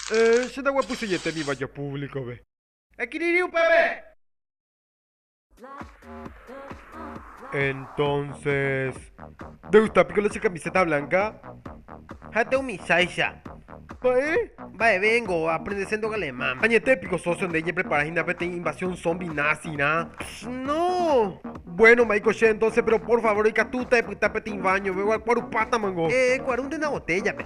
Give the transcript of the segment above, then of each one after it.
Héẽ, che naguapysejetémiva ko púvlikove. Ekirirĩ upépe. Entónses, ndegusta piko la che kamiséta blanka? Ha'ete umicháicha. Mba'e? Mba'eve engo aprendese nde alemán. Añete piko sósio nde eñeprepara hína peteĩ invasión zombi násirã? Pchh, no! Buéno, ma'éiko che entónse, péro pór favór ikatúta epyta peteĩ váñove, ogakuarupátamango. Ekuarúnte una botéllape.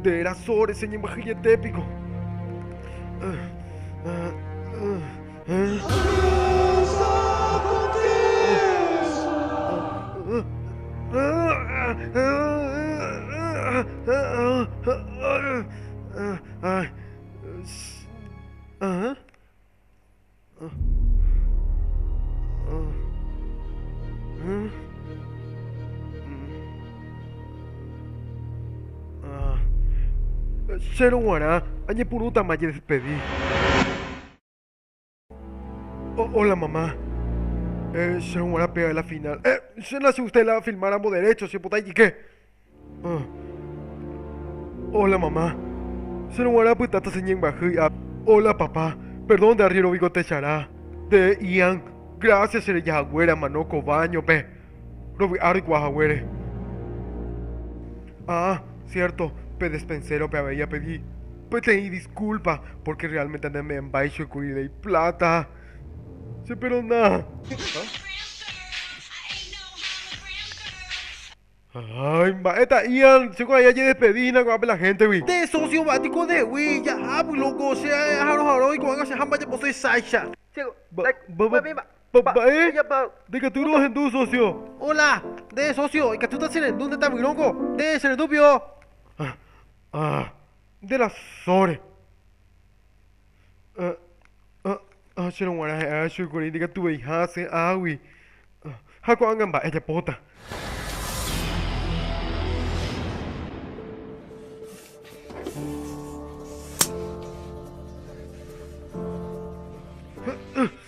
Nde eraso reseñembyhyjete piko. Chéro g̃uarã añepyrũtama ajedespedi. Óla mama. Chéro g̃uarã péva la final. Che nasiustéla filmáramo derécho chepotãijike. Óla mama. Chéro g̃uarã pyta tacheñembyahýi app. Óla papa. Perdón nde arriéro biko techarã. Nde Ian. Grásia che reja haguére amano ko váñope. Rovy'a reikuaa haguére. Ah, siérto, pe despensérope avei apedi peteĩ diskúlpa, pórke realmente nde membyaichói kuri rei pláta. Cheperona. Ay, mba'e ta Ian, che ko aja jedespedi hína ko'ápe la héntegui. Nde sósio mba'e piko ndegui, jahapy lóko, che ae aharõ harói ko'ág̃a che hamba japosói sáicha. Mba'e? Nde ikatu ro'ohendu, sósio. Hola, nde sósio, ikatúta che rendu nde tavyróngo. Nde che rendu pio. Ah, ah, nde la sóre. Ahácherõ g̃uarã ha'e ácho kuri ndikatuveiha asẽ águi. Ha ko'ág̃a mba'e ajapóta.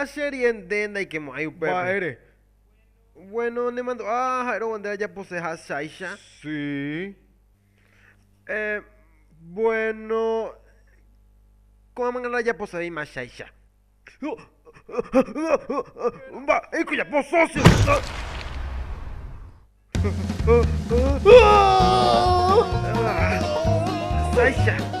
La serie nde ndaikemo'ãi upépe. Mba'ére. Bueno, nemandu'a ha'érõ nde ajapose hasháicha. Sí. Eh, bueno, ko'ãmangarã japosevéima cháicha. Mba'éiko japo sócio heta. Háicha.